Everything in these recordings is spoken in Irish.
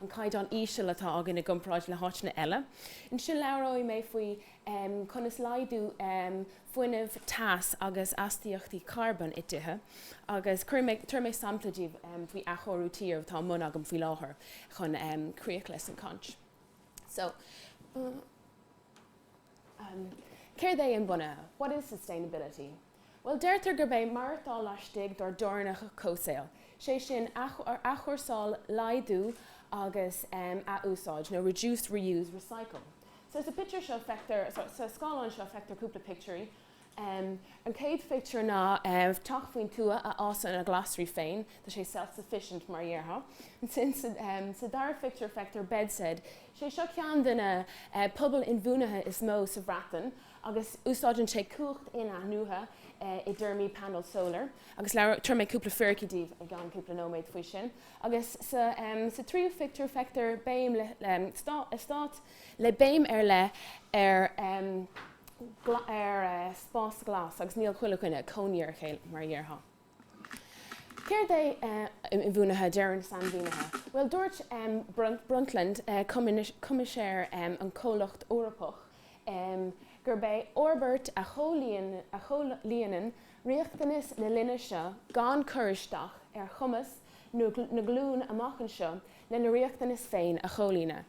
an caighdeán íseal atá againn i gcomparáid le háiteanna eile. Ansin labhróidh mé faoi conas laghdú fuinnimh, teas agus astaíochtaí carbón i dtithe agus tabharfaidh mé sampla daoibh faoi athchóiriú tí atá i mbun agam faoi láthair chun críoch leis an gcaint. Céard é inbhuanaithe? What is sustainability? Bhuel, deirtear gurb é maireachtáil laistigh dár dteorainneacha comhsaoil, sé sin, athchúrsáil, laghdú agus ath-úsáid, nó reduce, reuse, recycle. So sa pictiúr seo feictear, sa scáileán seo feictear cúpla pictiúirí. An chéad phictiúr ná teach faoin tuath a fhásann a ghlasraí féin, tá sé self-sufficient mar a dhéarfá. Ansin sa dara phictiúr feictear BedZED, sé seo ceann de na pobail inbhuanaithe is mó sa Bhreatain, agus úsáideann sé cumhacht in-athnuaithe i dtéarmaí panel solar, agus labh, tabharfaidh mé cúpla fíricí daoibh i gceann cúpla nóiméad faoi sin, agus sa tríú phictiúr feictear eastát le béim ar leith ar spás glas, agus níl chuile dhuine ina gcónaí ar a chéile, mar a dhéarfá. Céard é inbhuanaithe deireann sainmhínithe? Bhuel, dúirt Brundtland, Coimisinéir an Comhlacht Eorpach, gurb é fhorbairt a chomhlíonann riachtanais na linne seo gan cur isteach ar chumas na nglún amach anseo lena riachtanais féin a chomhlíonadh.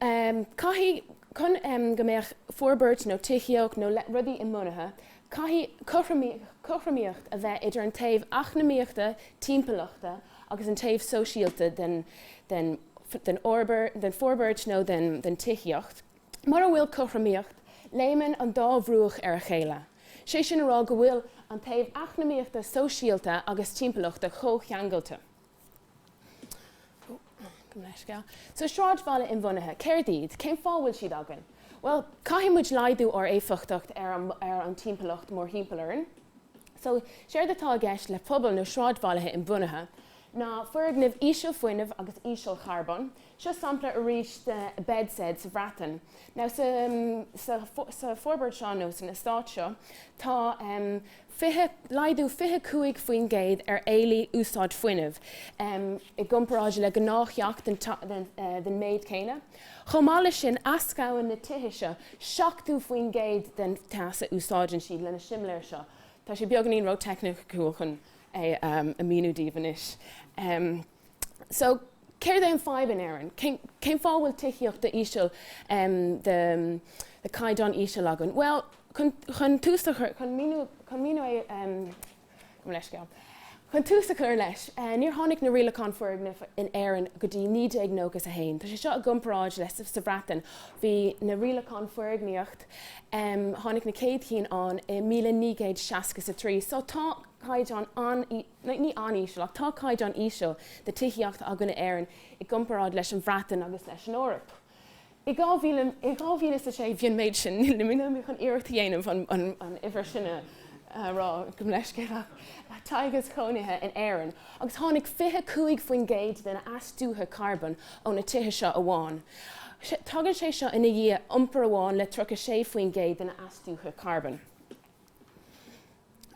Um, caithfidh, chun, um, go mbeadh forbairt nó tithíocht nó le, rudaí inbhuanaithe, caithfidh cothromaí, cothromaíocht a bheith idir an taobh eacnamaíochta, timpeallachta agus an taobh sóisialta den, den, den fhorbair, den forbairt nó den, den tithíocht. Mura bhfuil cothromaíocht, léimeann an dá bhruach ar a chéile, sé sin a rá go bhfuil an taobh eacnamaíochta, sóisialta agus timpeallachta comhcheangailte. So sráidbhaile inbhuanaithe, céard iad? Cén fáth a bhfuil siad againn? Bhuel, caithfidh muid laghdú ár éifeachtacht ar an timpeallacht mórthimpeall orainn. So, séard atá i gceist le pobail nó sráidbhailte inbhuanaithe ná foirgnimh ísealfhuinnimh agus ísealcharbóin. Seo sampla arís de BedZED sa Bhreatain. Now, sa fhorbairt seo nó san eastát seo, tá. 20, laghdú 25% ar éileamh úsáid fuinnimh i gcomparáid le gnáth-theach den méid céanna. Chomh maith leis sin, eascraíonn na tithe seo 70% den teas a úsáideann siad lena simléir seo. Tá sé beagáinín ró-teicniciúil chun é a mhíniú daoibh anois. So, céard é an fadhb in Éirinn? Cén fáth a bhfuil tithíocht de chaighdeán íseal, de chaighdeán íseal againn? Bhuel, chun tús a chur, chun míniú, chun míniú a, gabh mo leithscéal, chun tús a chur leis, níor tháinig na rialacháin foirgnimh in Éirinn go dtí 1991. Tá sé seo i gcomparáid le sa Bhreatain, bhí na rialacháin foirgníocht, tháinig na céad chinn ann i míle naoi gcéad seasca is a trí. So, tá caighdeán an, nó ní an-íseal, ach tá caighdeán íseal de tithíocht againn in Éirinn i gcomparáid leis an Bhreatain agus leis an Eoraip. I 2000, i 2006 bhí an méid sin, nílim in ann chun iarracht a dhéanamh an an uimhir sin a rá, gabh mo leithscéal, ach teaghais chónaithe in Éirinn, agus tháinig 25% de na astuithe carbón ó na tithe seo amháin. Tagann sé seo ina dhiaidh iompar amháin le 36% de na astuithe carbón.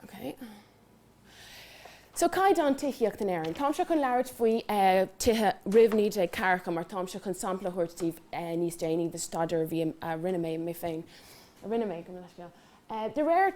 Okay. So, caighdeán tithíocht in Éirinn. Táimse chun labhairt faoi tithe roimh 1940 mar táimse chun sampla a thabhairt daoibh níos déanaí de staidéar a bhí, a rinne mé mé féin, a rinne mé, gabh mo leithscéal. De réir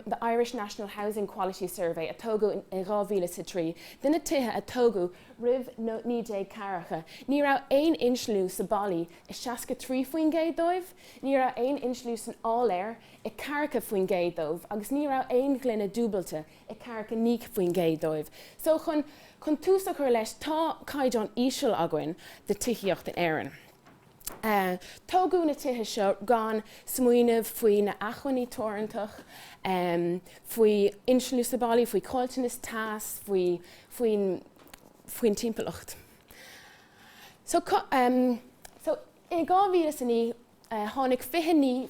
The Irish National Housing Quality Survey a tógadh in 2003, de na tithe a tógadh roimh 1940, ní raibh aon insliú sna ballaí i 63% dóibh, ní raibh aon insliú san áiléar i ceathracha faoin gcéad dóibh, agus ní raibh aon ghloine dúbailte i ceathracha naoi faoin gcéad dóibh. So, chun, chun tús a chur leis, tá caighdeán íseal againn de tithíocht in Éirinn. Eh. tógadh na tithe seo gan smaoineamh faoi na achmhainní teorantach, em, faoi insliú sna ballaí, faoi chaillteanas teas, faoi, faoin, faoin timpeallacht. So, cu, em, so, i dhá mhíle is a naoi, tháinig 29%,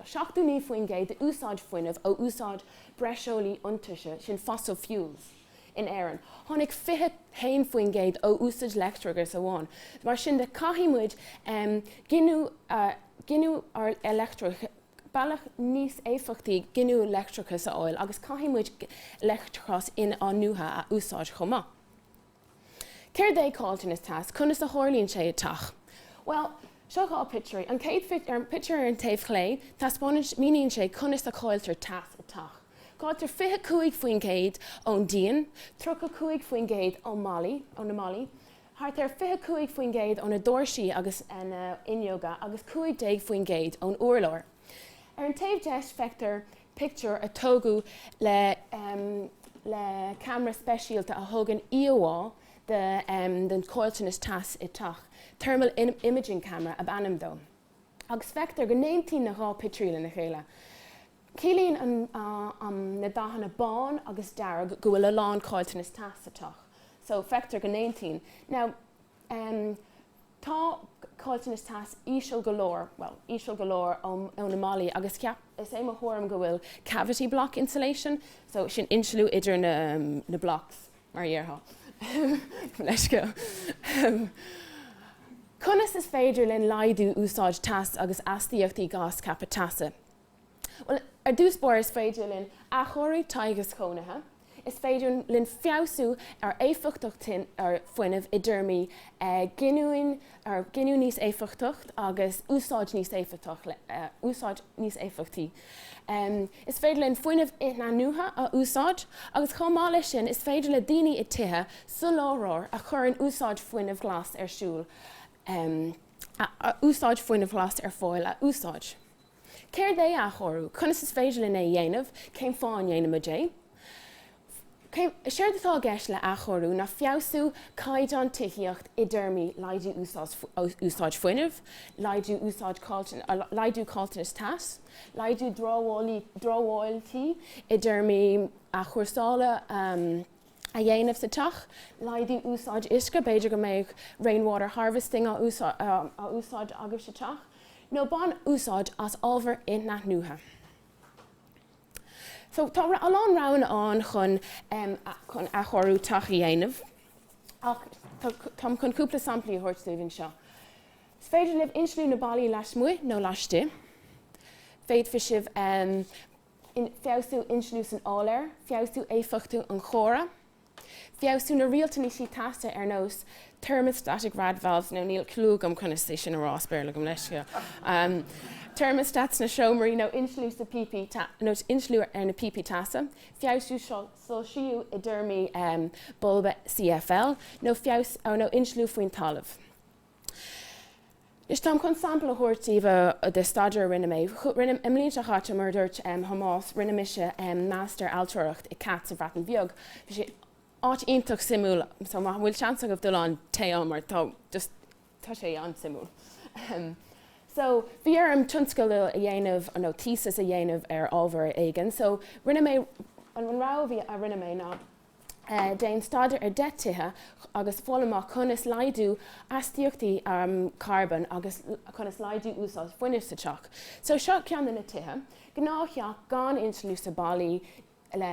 79% d'úsáid fuinnimh ó úsáid breoslaí iontaise, sin fossil fuels, in Éirinn. Tháinig 21% ó úsáid leictreachais amháin. Mar sin de, caithfidh muid giniúint ár leictreachais, bealach níos éifeachtaí giniúint leictreachais a fháil agus caithfidh muid leictreachas in-athnuaite a úsáid chomh maith. Céard é Caillteanas Teas? Conas a tharlaíonn sé i dteach? Bhuel, seo dhá pictiúirí. An chéad pictiúr ar an taobh chlé, taispeánann, míníonn sé conas a chailltear teas i dteach. Cailltear 25 faoin gcéad ón díon, 35 faoin gcéad ón mballaí, ó na mballaí, thart ar 25 faoin gcéad ó na doirse agus na fhuinneoga agus 15 faoin gcéad ón urlár. Ar an taobh deis feictear pictiúr a tógadh le le ceamara speisialta a thugann íomhá den chaillteanas teas i dteach, thermal imaging camera ab ainm dó, agus feictear go n-aontaíonn na dhá pictiúir lena chéile. Ciallaíonn an na dathanna bán agus dearg go bhfuil a lán caillteanas teas sa teach. So feictear go n-aontaíonn. Now. M, Tá caillteanas teas íseal go leor, bhuel, íseal go leor ó na mballaí agus ceap, is é mo thuairim go bhfuil cavity block insulation, so sin insliú idir na, na blocks mar a dhéarfá, leithscéal. M, Conas is féidir linn laghdú úsáid teas agus astaíochtaí gás ceaptha teasa? Bhuel, ar dtús báire is féidir linn athchóiriú teaghais chónaithe, is féidir linn feabhsú ar éifeachtacht an fhuinnimh i dtéarmaí giniúin, giniúint níos éifeachtacht agus úsáid níos éifeachtach, úsáid níos éifeachtaí. Is féidir linn fuinneamh inathnuaithe a úsáid agus chomh maith leis sin is féidir le daoine i tithe soláthróir a chuireann úsáid fuinnimh ghlais ar siúl a úsáid fuinneamh ghlais ar fáil a úsáid. Céard é athchóiriú? Conas is féidir linn é a dhéanamh? Cén fáth a ndéanaimid é? Séard atá i gceist le athchóiriú ná feabhsú caighdeán tithíocht i dtéarmaí laghdú úsáid fuinnimh, laghdú caillteanas teas, laghdú dramhaíola tí, i dtéarmaí athchúrsála, a dhéanamh sa teach, laghdú úsáid uisce, b'fhéidir go mbeadh rainwater harvesting á úsáid agaibh sa teach, nó bain úsáid as ábhair inathnuaithe. So tá a lán roghanna ann chun chun athchóiriú teach a dhéanamh ach táim chun cúpla samplaí a thabhairt daoibh anseo. Is féidir libh insliú na ballaí lasmuigh nó laistigh. Féadfaidh sibh in, feabhsú insliú san áiléar, feabhsú éifeachtaí an chóra, feabhsú na rialtáin teasa, ar nós thermostatic rad valves nó níl cliú agam conas é sin a rá as Béarla gabh mo leithscéal, thermostat sna seomraí nó insliú sna píopaí nó insliú ar na píopaí teasa, feabhsú soilsiú i dtéarmaí bulba CFL nó feabhas nó insliú faoin talamh. Anois, táim chun sampla a thabhairt daoibh de staidéar a rinne mé. Rinne, i mbliain seo chaite, mar a dúirt Thomás, rinne mise Master Ailtireacht i CAT sa Bhreatain Bheag. Bhí sé áit iontach suimiúil, so má bhfuil seans agaibh dul ann, téigh ann mar tá just, tá sé an-suimiúil. So, bhí orm tionscadal a dhéanamh nó thesis a dhéanamh ar ábhar éigin, so rinne mé, an rogha a bhí, a rinne mé ná, Déan staidéar ar 10 tithe agus fháil amach conas laghdú astaíochtaí carbóin agus conas laghdú úsáid fuinnimh sa teach. So seo ceann de na tithe. Gnáth-theach gan insliú sna ballaí le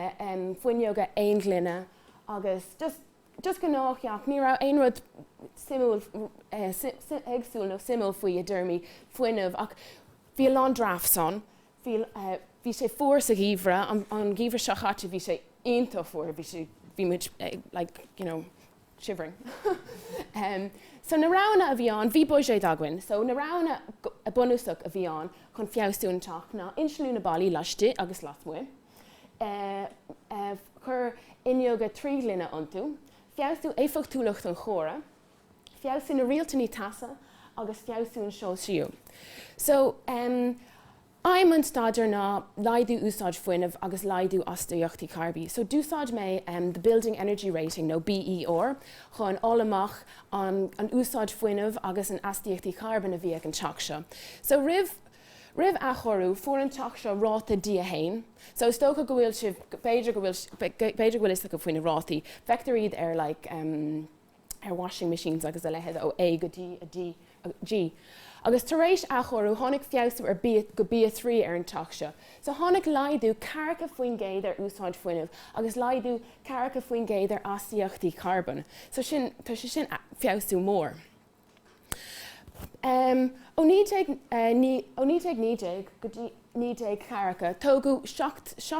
fuinneoga aon ghloine agus just, just gnáth-theach. Ní raibh aon rud suimiúil, éagsúil nó suimiúil faoi i dtéarmaí fuinnimh ach bhí a lán drafts ann. Bhí sé fuar sa gheimhreadh, an geimhreadh seo chaite, bhí sé iontach fuar, bhí sé, bhí muid like, you know, shivering. So na roghanna a bhí ann, bhí buiséad againn, so na roghanna bunúsach a bhí ann chun feabhsú an teach ná insliú na ballaí laistigh agus lasmuigh, cur fuinneoga trí ghloine iontu, feabhsú éifeachtúlacht an choire, feabhsú na rialtáin teasa agus feabhsú an soilsiú. So, em, aidhm an staidéir ná laghdú úsáid fuinnimh agus laghdú astaíochtaí carbóin. So d'úsáid mé, em, the Building Energy Rating nó BER chun fháil amach an an úsáid fuinnimh agus an astaíochtaí carbóin a bhí ag an teach seo. So roimh Roimh athchóiriú, fuair an teach seo ráta D1. So is dócha go bhfuil sibh, b'fhéidir go bhfuil, b'fhéidir go bhfuil fhios agaibh faoi na rátaí. Feictear iad ar like, em, ar washing machines agus a leithéid ó A go D, G, agus tar éis athchóiriú tháinig feabhsú ar go B3 ar an teach seo. So tháinig laghdú ceathracha faoin gcéad ar úsáid fuinnimh agus laghdú ceathracha faoin gcéad ar astaíochtaí carbóin. So sin, tá sé sin, feabhsú mór. Ó 1919 go dtí 1940, tógadh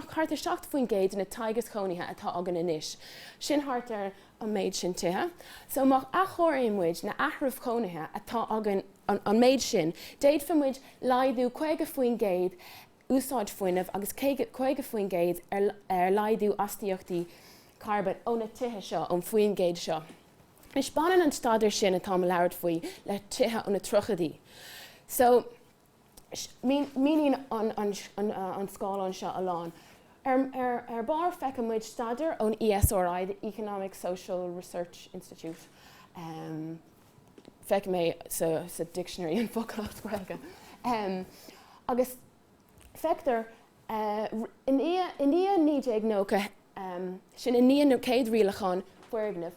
thart ar 7 faoin gcéad de na teaghais cónaithe atá againn anois, sin thart ar an méid sin tithe. So má athchóiríonn muid na háitribh chónaithe atá againn an méid sin, d'fhéadfadh muid laghdú 50 faoin gcéad úsáid fuinnimh agus 50 faoin gcéad ar laghdú astaíochtaí carbóin ó na tithe seo, ón faoin gcéad seo. Anois, baineann an staidéar sin atá mé ag labhairt faoi le tithe ó na tríochaidí so míníonn an scáileán seo a lán. Ar barr feiceann muid staidéar ón ESRI, the Economic Social Research Institute, feic mé sa dictionary an focal as Gaeilge, agus Feictear, i ndiaidh 1990, sin i ndiaidh na chéad rialacháin foirgneamh,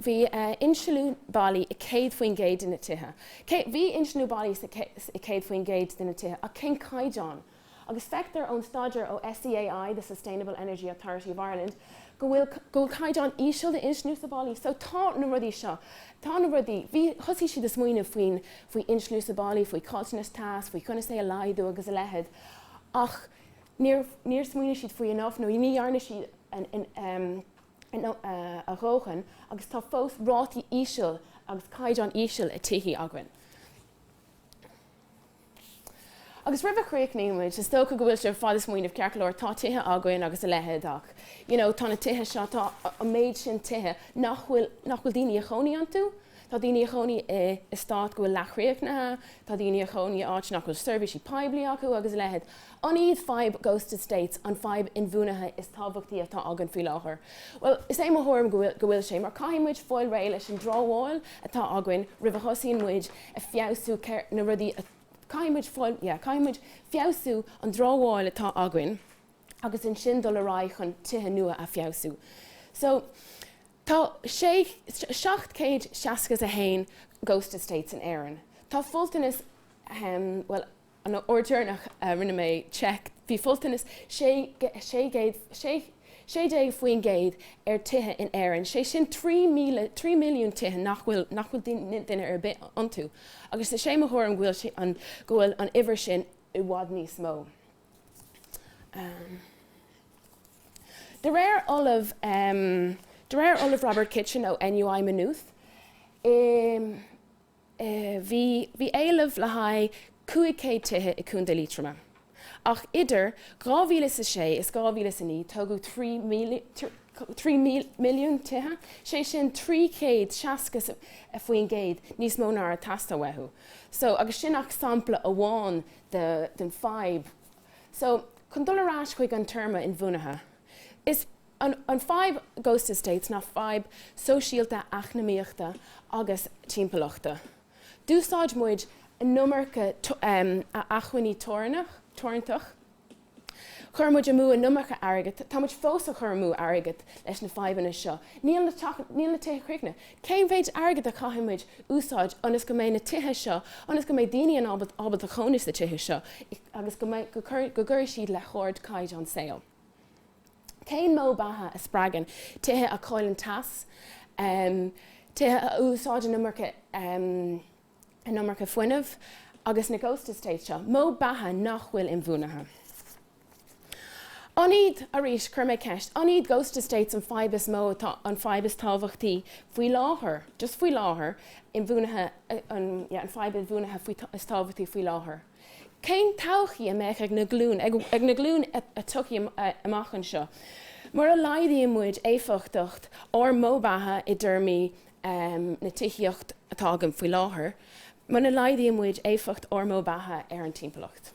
bhí insliú ballaí i 100% de na tithe, bhí insliú ballaí sa 100% de na tithe, ach cén caighdeán? Agus feictear ón staidéar ó SEAI, The Sustainable Energy Authority of Ireland, go bhfuil caighdeán íseal d'insliú sna ballaí. So tá na rudaí seo. Tá na rudaí. Bhí, thosaigh siad a smaoineamh faoin, faoi insliú sa bhaile, faoi chaillteanas teas, faoi conas é a laghdú agus a leithéid ach níor, níor smaoinigh siad faoi enough nó ní dhearna siad a dhóthain agus tá fós rátaí íseal agus caighdeán íseal i tithe againn. Agus roimh a chríochnaíonn muid, is dócha go bhfuil sibh ar fad a smaoineamh ceart go leor, tá tithe againn agus a leithéid ach, you know, tá na tithe seo, tá an méid sin tithe nach bhfuil, nach bhfuil daoine a chónaí iontu. Tá daoine a chónaí i estáit go bhfuil leathchríochnaithe, tá daoine a chónaí áit nach bhfuil seirbhísí poiblí acu agus a leithéid. An iad fadhb Ghost Estates an fadhb inbhuanaithe is tábhachtaí atá againn faoi láthair? Bhuel, is é mo thuairim go bhfuil, go bhfuil sé, mar caithfidh muid fáil réidh leis an dramhaíl atá againn roimh a thosaíonn muid a feabhsú céir, na rudaí a, caithfidh muid fáil, yeah, caithfidh muid feabhsú an dramhaíl atá againn agus ansin dul ar aghaidh chun tithe nua a feabhsú. So, tá sé, seacht céad seasca is a haon Ghost Estates in Éirinn. Tá folúntas, ahem, bhuel, an uair dheireanach a rinne mé seic, bhí folúntas sé, 16% ar tithe in Éirinn, sé sin trí míle, 3 milliún, tithe nach bhfuil nach bhfuil duine ar bith iontu, agus is é mo thuairim go bhfuil sé an, go bhfuil an uimhir sin i bhfad níos mó. De réir ollamh, de réir ollamh Robert Kitchin ó NUI Maynooth i. Bhí bhí éileamh le haghaidh 500 tithe i Contae Liatroma ach idir 2006 is 2009 tógadh 3 milliún tithe, sé sin 360% níos mó ná a raibh ag teastáil uathu. So agus sin ach sampla amháin de den fadhb. So chun dul ar ais chuig an téarma inbhuanaithe, is An an fadhb Ghost Estates ná fadhb sóisialta, eacnamaíochta agus timpeallachta. D'úsáid muid an iomarca acmhainní teorannach, teorantach. Chuir muid amú an iomarca airgead. Tá muid fós a chur amú airgead leis na fadhbanna seo. Níl na níl na tithe críochnaithe. Cén mhéid airgead a chaithfidh muid úsáid ionas go mbeidh na tithe seo ionas go mbeidh daoine in ábalta ábalta chónaí sa tithe seo agus go mbeidh go go gcuirfidh siad le hard caighdeán saoil. Cén modh beatha a spreagann tithe a chailleann teas, tithe a úsáideann an iomarca fuinnimh agus na ghost estates seo, modh beatha nach bhfuil inbhuanaithe? An iad, arís, chuir mé ceist, an iad ghost estates an fadhb is mó atá, an fadhb is tábhachtaí faoi láthair, just faoi láthair, inbhuanaithe, yeah, an fadhb inbhuanaithe is tábhachtaí faoi láthair? Cén todhchaí a bheidh ag na glúine ag na glúine a thiocfaidh amach anseo mura laghdaíonn muid éifeachtacht ár modh beatha i dtéarmaí na tithíocht atá againn faoi láthair, mura laghdaíonn muid éifeacht ár modh beatha ar an timpeallacht?